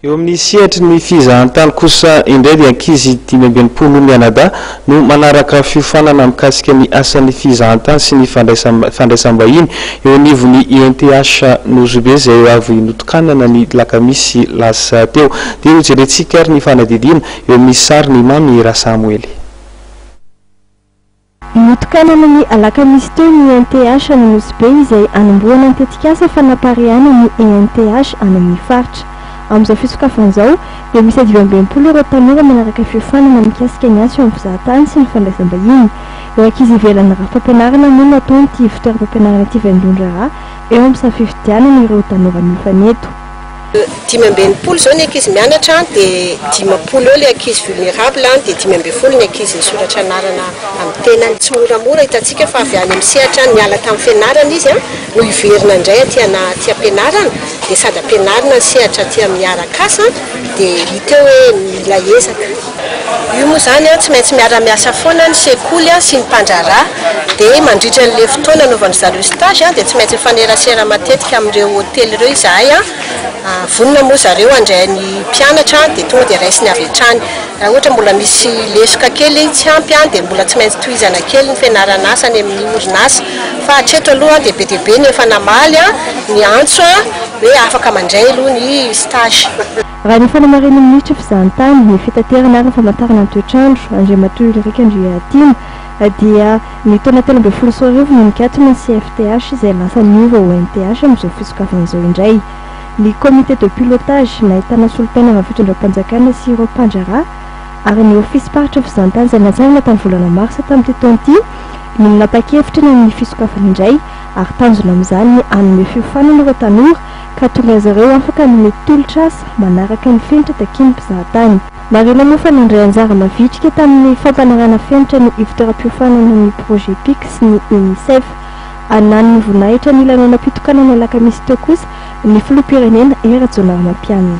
Eo amin'ny sehatry ny fizahantany kosa indray dia ankizy dimy amby enimpolo mianadahy no manaraka fiofanana mikasika ny asan'ny fizahantany sy ny fandraisam-bahiny eo anivon'ny INTH Nosy-Be izay avy notokanana ny lakamisy lasa teo. Dia hojerentsika ary ny fanadihadiana eo amin'ny sarin'i Mamy Rasamoely. Notokanana ny alakamisy teo ny ENTH any Nosy Be izay hanombohana ny tetikasa fanaparihana ny ENTH any amin'ny faritra. Amin'izao fisokafana izao dia miisa dimy amby enimpolo ireo tanora manaraka fiofanana mikasika ny asa eo amin'ny mpizahatany sy ny fandraisam-bahiny. Ireo ankizy ivelan'ny rafi-pampianarana moa no ataon'ity ivotoeram-pampianarana ity vaindohan-draharaha eo amin'ny samy fifidianana ireo tanora mifanento. Dimy amby enimpolo izao ny ankizy mianatra dia dimampolo eo ilay ankizy vulnerable dia dimy ambin'ny folo ny ankizy nisoratra anarana amin'ny tenany. Tsy moramora, hitantsika fa avy any amin'ny sehatra any niala tamin'ny fianarana izy no hiverina indray aty anaty ampianarana dia sady ampianarina ny sehatra aty amin'ny Aracas dia hita eo hoe mila ezaka. Io moa izany tsy maintsy miara-miasa foana ny sekoly sy ny mpandraharaha. Dia mandritra an'ilay fotoana anaovan'dry zareo stage dia tsy maintsy mifanerasera matetika amin'ireo hotely ireo izahay. Vonona moa zareo handray ny mpianatra dia tonga dia raisiny avy hatrany. Raha ohatra mbola misy lesoka kely tsy ampy dia mbola tsy maintsy tohizana kely ny fianaran'asa any amin'ny orinasa. Fa hatreto aloha dia be dia be ny efa namaly ny antso hoe afaka mandray aloha ny stage. Raha ny fanamarin'ny minisitry fizahantany, ny fitaterana ary ny famantarana ny toetr'andro, Andriamatoa Ulrich Andriahatiana, dia ny taona telo ambin'ny folo sy roa arivo no nikatona ny CFTH izay lasa niova ho NTH amin'izao fisokafana izao indray. Ny Comité de pilotage, nahitana solontenan'ny fitondram-panjakana sy ireo mpandraharaha ary ny ofisim-paritra fizahantany izay natsangana tamin'ny volana marsa tamin'ity taona ity no nanapa-kevitra ny amin'ny fisokafana indray ary tanjona amin'izany ny hanome fiofanana ireo tanora ka tonga azy ireo afaka hanome tolotr'asa manaraka ny fenitra takian'ny mpizahatany. Marihina moa fa nandray anjara mavitrika tamin'ny fampanarahana fenitra ny ivon-toeram-piofanana ny Projet Pic sy ny Unicef. Ananon'ny voninahitra ny lanonam-pitokanana alakamisy teo kosa ny filoham-pirenena Hery Rajaonarimampianina.